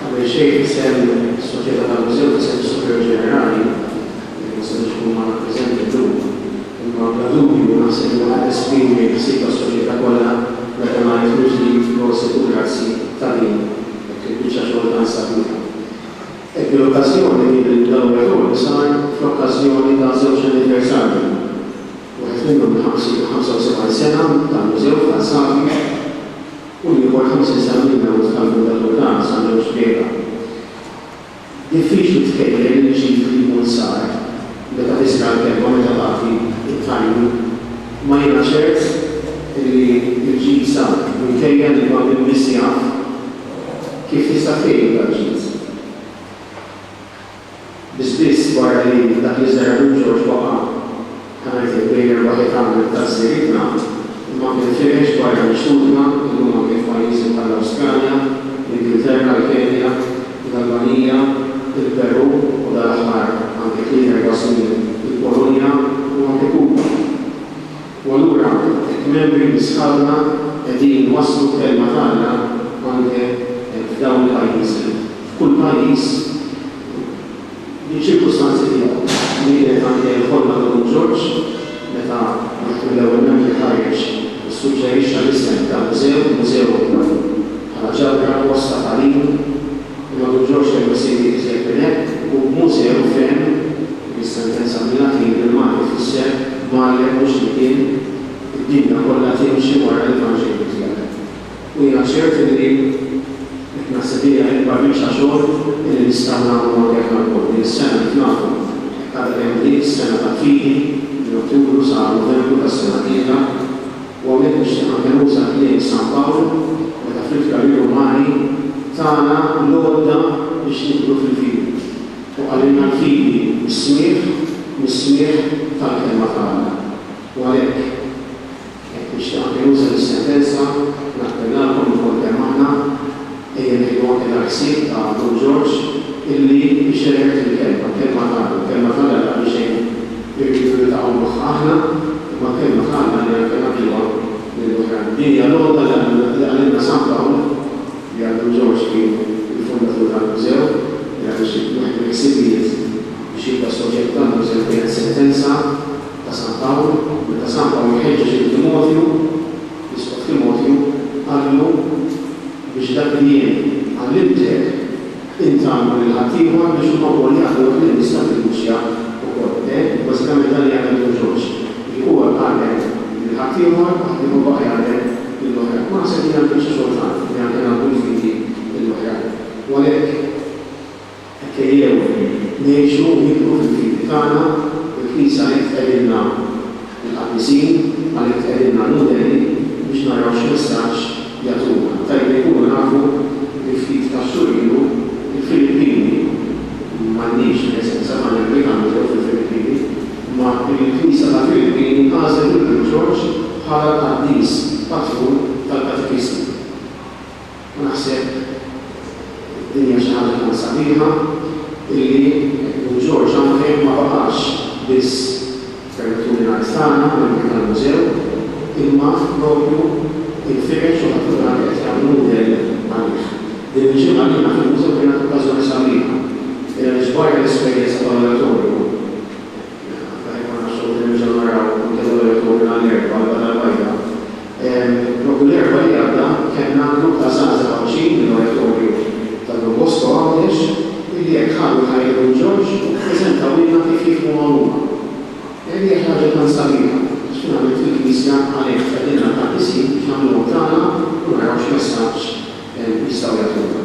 Qabel xejn f'isem is-Soċjetà tal-Mużew f'isem is-Superjur Ġenerali, li ma setax ikun magħna preżenti llum, imma bla dubju naħseb li huwa qed esprimi l-ħsieb tas-Soċjetà kollha meta ngħid mill-ġdid prosit u grazzi ta' din hekk il-biċċa xogħol tant sabiħa. Hekk bil-okkażjoni li dan l-awditore sar fl-okkażjoni ta' żewġ anniversarji. wieħed minnhom li ħabsu lil 75 sena tal-Mużew f'Ħal Safi u l-ieħor 50 sena mill-mewt tal-Buddha Durga San Ġorġ Briega. Diffiċli tkejjel il-ġid li jkun sar meta tisma' l-kelma meta tagħti t-tajjin. Ma jiena ċert li l-ġid sar minkejja li ma' min biss jaf kif tista' tkejjel dal-ġid. bi spiss wara li dak li żergħet lil George waqa', ta' ngħidlek bejn erba' ħitan minn tażżirietna, imma kien fieħeġ barra minn xtutna illum anke f'pajjiżi bħall-Awstralja, l-Ingilterra, l-Kenja, l-Albanija, il-Perù u dal-aħħar, anke tliet erba' snin, il-Polonja u anke Kuba. U allura hekk membri minn sħabna qegħdin iwasslu l-kelma t'Alla anke f'dawn il-pajjiżi. F'kull pajjiż bil-ċirkustanzi tiegħu. Din kienet anke l-ħolma ta' Dun Ġorġ meta wieħed mill-ewwel membri ħareġ u ssuġġerixxa l-isem ta' mużew, mużew bħala ġabra, post ta' tagħlim, L-Għadu Ġorġ kellu jsir iżjed minn hekk u b'mużew fehem li s-sentenza mill-Latin bil-Malti tfisser Mgħallem mhux li kien, id-dinja kollha timxi wara l-Evanġelju tiegħek. U jiena ċert li din qed naħseb li hija l-ikbar biċċa xogħol li nistgħu nagħmlu anke aħna lkoll. Din is-sena kif nafu qed tgħaddi kemm bdiet is-sena tal-fidi, minn Ottubru sa Novembru tas-sena d-dieħla. U hawnhekk nixtieq nagħmel użu tal-kliem San Pawl meta fl-Ittra lir-Rumani tana l-għodda biex nidħlu fil-fidi. U qalilna l-fidi mis-smigħ, mis-smigħ tal-Kelma ta' Alla. U għalhekk, hekk nixtieq anke nuża dis-sentenza, nappellalkom ilkoll kemm aħna, Dejjem tipponi dak ħsieb ta' Don Ġorġ illi ixerred il-kelma, l-kelma t'Alla, l-kelma t'Alla li qabel xejn hi rridu niltaqgħu magħha aħna, imma l-kelma t'Alla li anke nagħtuha lill-oħrajn. Din hija l-għodda li qalilna San Pawl, li għal Dun Ġorġ kien il-fundatur tal-Mużew, li għaliex wieħed mill-ħsibijiet biex jibda s-soġġett tal-Mużew kienet sentenza ta' San Pawl, meta San Pawl iħeġġeġ lil Timotju, L-Isqof Timotju qallu, Biex dak li jien għallimtek, int għallimhu lil ħaddieħor biex huma wkoll jagħlmuh lil nisa fil-Knisja wkoll. Ehm, bażikament dan li għamel Dun Ġorġ. Jiġifieri huwa għallem lil ħaddieħor, ħaddieħor baqa' jgħallem lil oħrajn. U naħseb li din hija l-biċċa xogħol tagħna, li anke nagħlmu l-fidi lill-oħrajn. U għalhekk. Hekk ejjew ngħixu u nikbru fil-fidi tagħna, il-Knisja hi tqegħdilna l-qaddisin, għalhekk tqegħdilna l-mudell biex naraw x'messaġġ jagħtuna. Tajjeb li nkunu nafu li ftit ta' xhur ilu l-Filippini, m'għandniex preżenza, m'għandna l-Vikanġelu fil-Filippini, imma l-Knisja tal-Filippini għażlet lil Ġorġ bħala l-qaddis patrun tal-katekisti. U naħseb din hija xi ħaġa tant sabiħa illi Edmund George hawn fejn ma baqax biss, permettuli ngħid tagħna, membri tal-mużew, imma propju inferex u ħaddieħor anke qed jagħmel mudell għalih. Din il-ġimgħa għalina fil-mużew kienet okkażjoni sabiħa għaliex barra l-esperjenza tal-oratorju, Jekk ma nafx u qed nerġa' naraw kemm darba tlogħna l-erbgħa l-logħba tal-bajda. Propju l-erbgħa li għadda kellna grupp ta' żgħażagħ Għawdxin mill-Oratorju ta' Don Bosco Għawdex illi hekk ħadu ħajr minn Ġorġ u ppreżentawilna kif jifhmuha huma. Li hija xi ħaġa tant sabiħa għax finalment fil-Knisja għalhekk tfeddilna tant isib biex nagħmluhom tagħna u naraw x'messaġġ jistgħu jagħtuna.